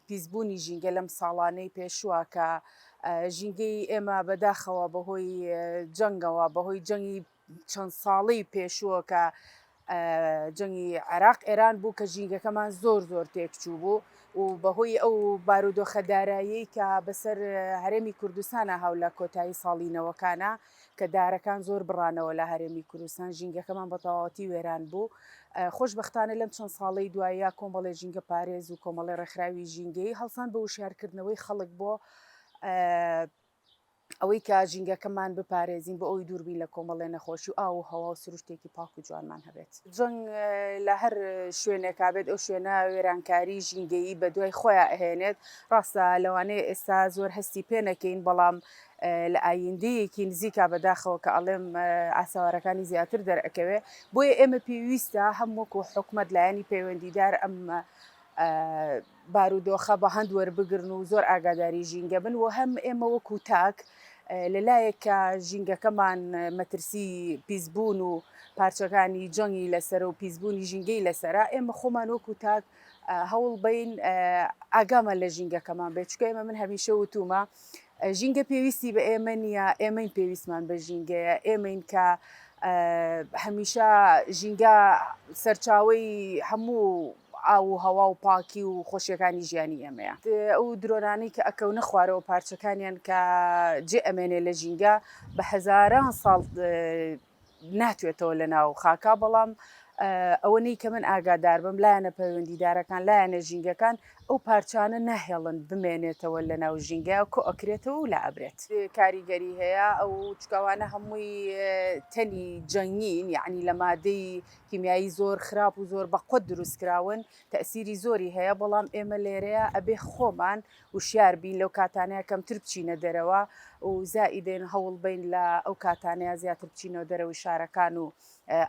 پیسبوونی ژینگە لەم ساڵانەی پێشووە کە ژینگەی ئێمە بەداخەوە بەهۆی جەنگەوە بەهۆی جەنگی چەند ساڵی پێشووە کە جەنگی عێراق ئێران بوو کە ژینگەکەمان زۆر زۆر تێکچوو بوو و بەهۆی ئەو بارودۆخە دارایی کە بەسەر هەرێمی کوردستانە هاو لە کۆتایی ساڵینەوەکانە کە دارەکان زۆر بڕانەوە لە هەرێمی کوردستان ژینگەکەمان بە تەواوەتی وێران بوو خۆشببختانە لەم چەند ساڵەی دوایە کۆمەڵی ژینگە پارێز و کۆمەڵی ڕێکخراوی ژینگەی هەڵسان بە وشارکردنەوەی خەڵک بۆ ئەوەی کە ژینگەکەمان بپارێزین بۆ ئەوی دووربین لە کۆمەڵێ نەخۆشی و ئاو و هەوا و سروشتێکی پاک و جوانمان هەبێت جەنگ لە هەر شوێنێکا بێت ئەو شوێنە وێرانکاری ژینگەیی بە دوای خۆیان ئەهێنێت ڕاستە لەوانەیە ئێستا زۆر هەستی پێ نەکەین بەڵام ئە لە ئایندەیەکی نزیکا بەداخەوە کە ئەڵێم ئاسەوارەکانی زیاتر دەرئەکەوێ بۆیە ئێمە پێویستە هەم وەکو حکومەت لایەنی پەیوەندیدار ئەم بارودۆخە بە هەند وەربگرن و زۆر ئاگاداری ژینگە بن و هەم ئێمە وەکو تاک لەلایەک کە ژینگەکەمان مەترسی پیسبوون و پارچەکانی جەنگی لەسەر و پیسبوونی ژینگەی لەسرە ئێمە خۆمان وەکو تاک هەوڵ بەین ئاگامان لە ژینگەکەمان بێت چکە ئێمە من هەمیشە وتومە ژینگە پێویستی بە ئێمە نییە ئێمەین پێویستمان بە ژینگەیە ئێمەین کە هەمیشە ژینگە سەرچاوی هەموو ئاو و هەوا و پاکی و خۆشیەکانی ژیانی ئێمەیە ئەو درۆنانی کە ئەکەونە خوارەوە پارچەکانیان کە جێ ئەمێنێ لە ژینگە بە هەزاران ساڵ ناتوێتەوە لەناو خاکا بەڵام ئەوەنەی کە من ئاگاداربم لایەنە پەیوەندیدارەکان لایەنە ژینگەکان ئەو پارچانە ناهێڵن بمێنێتەوە لەناو ژینگە کۆ ئەکرێتەوە و لا ئەبرێت. کاریگەری هەیە ئەو چکاوانە هەمووی تەلی جەنگین یەعنی لە مادەی کیمیایی زۆر خراپ و زۆر بەقوەت دروست کراون تەئسیری زۆری هەیە بەڵام ئێمە لێرەیە ئەبێ خۆمان وشیار بین لەو کاتانەیە کەمتر بچینە دەرەوە و زائیدەن هەوڵ بین لە ئەو کاتانەیە زیاتر بچینەوە دەرەوەی شارەکان و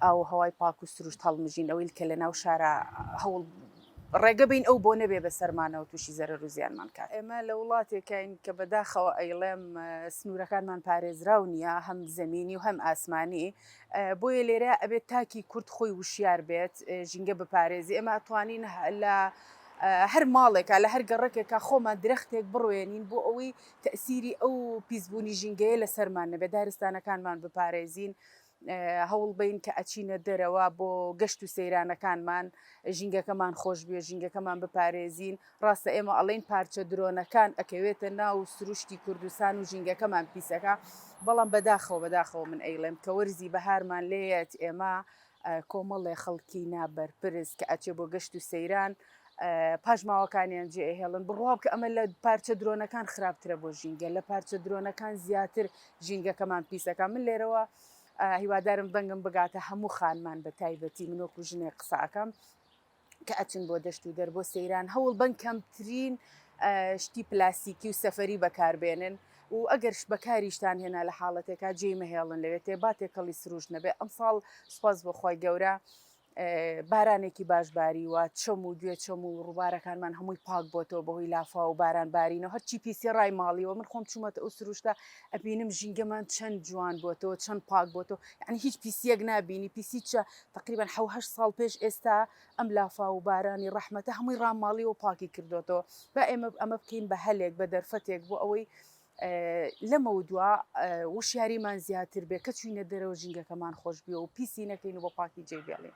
ئاو و هەوای پاک و سروشت هەڵمژین ئەویل کە لە ناو شارە هەوڵ ڕێگە بین ئەو بۆ نەبێ بە سەرمانەوە تووشی زەرەر و زیانمان کات. ئێمە لە وڵاتێکین کە بەداخەوە ئەیڵێم سنوورەکانمان پارێزراو نییە هەم زەمینی و هەم ئاسمانی بۆیە لێرە ئەبێت تاکی کورد خۆی وشیار بێت ژینگە بپارێزی ئێمە ئەتوانین لە هەر ماڵێکا لە هەر گەڕەکێکا خۆمان درەختێک بڕوێنین بۆ ئەوەی تەئسیری ئەو پیسبوونی ژینگەیە لەسەرمان نەبێت دارستانەکانمان بپارێزین هەوڵ بەین کە ئەچینە دەرەوە بۆ گەشت و سەیرانەکانمان ژینگەکەمان خۆشبێ ژینگەکەمان بپارێزین ڕاستە ئێمە ئەڵین پارچە درۆنەکان ئەکەوێتە ناو سروشتی کوردستان و ژینگەکەمان پیسەکە بەڵام بەداخەوە بەداخەوە من ئەیڵێم کە وەرزی بەهارمان لێت ئێمە کۆمەڵێ خەڵکی نا بەرپرس کە ئەچێ بۆ گەشت و سەیران پاشماوەکانیان جێ ئەهێڵن، بڕوابکە ئەمە لە پارچە درۆنەکان خراپترە بۆ ژینگە، لە پارچە درۆنەکان زیاتر ژینگەکەمان پیس ئەکا، من لێرەوە هیوادارم دەنگم بگاتە هەموو خانمان بە تایبەتی من وەکو ژنێک قسە ئەکەم، کە ئەچن بۆ دەشت و دەر بۆ سەیران هەوڵ بەن کەمترین شتی پلاسیکی و سەفەری بەکاربێنن و ئەگەرش بەکاریشتان هێنا لە حاڵەتێکا جێی مەهێڵن لەوێ تێ با تێکەڵی سروش نەبێ ئەمساڵ سپاس بۆخوای گەورە بارانێکی باش باریوە چەم و گوێ چەم و ڕووبارەکانمان هەمووی پاک بۆتەوە بەهۆی لافا و باران بارینەوە هەرچی پیسی ڕای ماڵیەوە من خۆم چوومەتە ئەو سروشتە ئەبینم ژینگەمان چەند جوان بۆتەوە چەند پاک بۆتەوە یعنی هیچ پیسیەک نبینی پیسی چە تەقریبەن حەو هەشت ساڵ پێش ئێستا ئەم لافاو و بارانی ڕەحمەتە هەمووی ڕاماڵیوە و پاکی کردۆتەوە با ئێمە ئەمە بکەین بە هەلێک بە دەرفەتێک بۆ ئەوەی لەمەودوا وشیاریمان زیاتر بێ کە چوینە دەرەوە ژینگەکەمان خۆش بێ و پیسی نەکەین و بە پاکی جێ بێڵین.